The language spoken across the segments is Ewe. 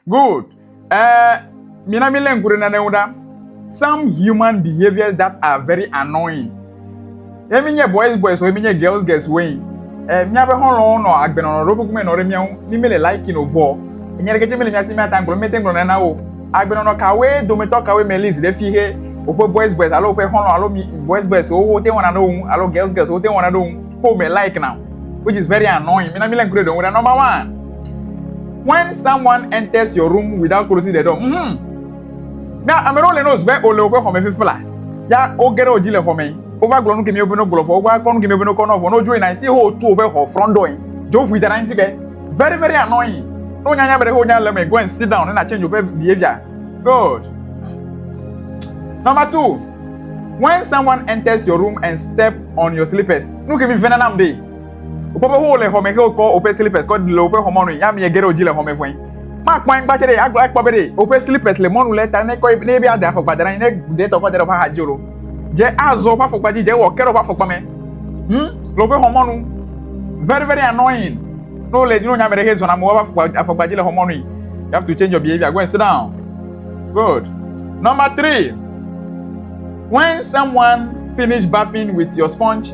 Good. Uh, mina mi lé ŋku ɖe nane ŋu ɖa. Some human behaviors that are very annoying. Ye mi nye boys boys wo, ye mi nye girls girls wo yin. Eh, miabe xɔlɔwo nɔ agbenɔnɔ ɖo kukume nɔ ɖe mia ŋu, ni mi le liking o vɔ. Nya ɖeke tse mi le mia si mi ata ŋgblɔ, mi te ŋgblɔ nane na wo. Agbenɔnɔ kawoe dometɔ kawoe me list ɖe fi he woƒe boys boys alo woƒe xɔlɔ alo mi boys boys wo wo te wɔna ɖe wo ŋu alo girls girls wo te wɔna ɖe wo ŋu. Ko me like na. Which is very annoying. Mina mi lé ŋku ɖe ɖe ŋu ɖa. Number one. When someone enters your room without closing the door, mm, na ame ɖewo le nose be wòle woƒe xɔme fifi la, ya woge ɖe wo dzi le xɔme, wova gblɔ nu kemi woƒe no gblɔ fɔ, wova kɔ nu kemi woƒe no kɔ nɔ fɔ, ne wodzo yina si ho tu woƒe xɔ front door yi, dzo ƒui da ɖe ŋuti be, very very annoying, ne wonya nya be ɖe wonya le me, go and sit down, ne na change woƒe behavior, good. Number two, when someone enters your room and step on your slippers, nu kemi vena nam de. Wokpɔ be wole xɔ me xe wokɔ woƒe slippers kɔ le woƒe xɔ mɔnui. Yami ege ɖe wodzi le xɔ me vɔe. Makpɔ anyigba tsɛ ɖe agblɔ akpɔ be ɖe woƒe slippers le mɔnu le eta ne kɔ ne be ada afɔkpa da ɖe anyi ne ɖe tɔ kɔ da ɖe woƒe axadzi olo. Dze azɔ woƒe afɔkpa dzi dze wɔ ke ɖe woƒe afɔkpa me ŋu le woƒe xɔ mɔnu. Very very annoying. Ne wole ne wonye ame ɖe xe zɔna me woƒe afɔkpa afɔkpa dzi le xɔ mɔnui. You have to change your behavior. Go and sit down. Good. Number three. When someone finish bathing with your sponge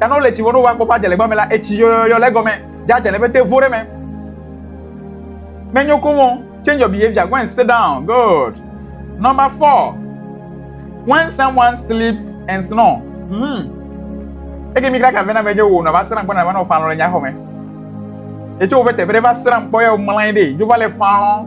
Ta ne wole tsi vɔ ne wova kpɔƒe adze le gbame la, etsi yɔyɔyɔ le egɔme dze adze le eƒe te vo ɖe me. Menyo komo. Change your behavior. Go and sit down. Good. Number four. When someone sleeps and snore. Hmm. Eke mi kaka vena me je wo na va sran kpɔ na va no palo le nya xɔ me. Etso wo be te vere va sran kpɔ ya o mlain de. Jo va le palo.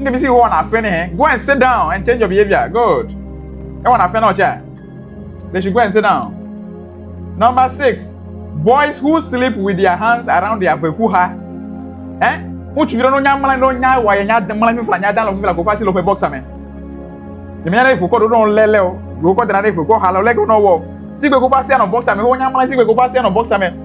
Nge bisi ho wana fe ne he. Go and sit down and change your behavior. Good. E wana fe na ocha. They should go and sit down. Number six, boys who sleep with their hands around their vekuha. Eh? Ŋutsu vi ɖe no nya mla no nya wa ye nya de mla fifla nya dan lo fifla ko fasi lo fe boxa me. Ye nya ne voko do no lele o. Voko dana ne voko hala le ko no wo. Sigbe ko fasi no boxa me ho nya mla sigbe ko fasi no boxa me.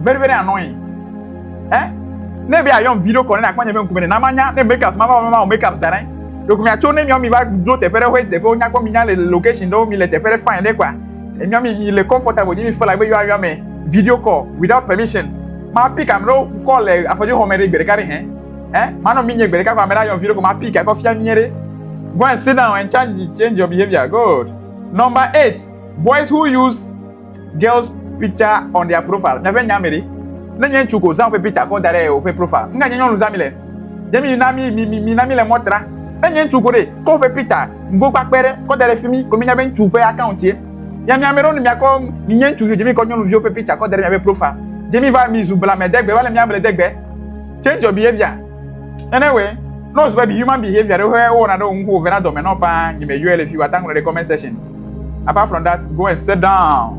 very very annoying eh ne be ayɔm video call ne akpɔ nye be ŋkume ne na manya ne makeup ma va ma o makeup da ɖe ɖeko mia tso ne mia mi va do teƒe ɖe hoe teƒe wonya kpɔ mi nya le location ɖewo mi le teƒe ɖe fine ɖe kpa mia mi mi le comfortable nye mi fela be yɔa yɔa me video call without permission ma pick am ɖewo call le afɔdzi xɔme ɖe gbe ɖeka ɖe hɛn eh ma nɔ mi nye gbe ɖeka kɔ ame ɖe ayɔm video call ma pick akɔ fia mi ɖe go and sit down and change change your behavior good number eight boys who use Girls picture on their profile. Miaƒe nya me ɖe? Ne nye ŋutsu ko, zã woƒe picture kɔ da ɖe woƒe profile. Nuka nye nyɔnu zã mi le? Dze mi na mi mi mi na mi le mɔ tra. Ne nye ŋutsu ko ɖe, kɔ woƒe picture ŋgokpakpe ɖe kɔ da ɖe fimi ko mienya be ŋutsu ƒe account ye. Ya mi ame ɖewo ne miakɔ mi nye ŋutsuviwo dze mi kɔ nyɔnuviwo ƒe picture kɔ da ɖe miaƒe profile. Dze mi va mi zu blamedegbe va le mia ble degbe. Change your behavior. Nene we, no zube bi human behavior ɖe wohe wowɔna ɖe wo ŋu wovena dɔme nɔ paa, nyi me yɔɛ le fi wata ŋlɔ ɖe comment section. Apart from that, go and sit down.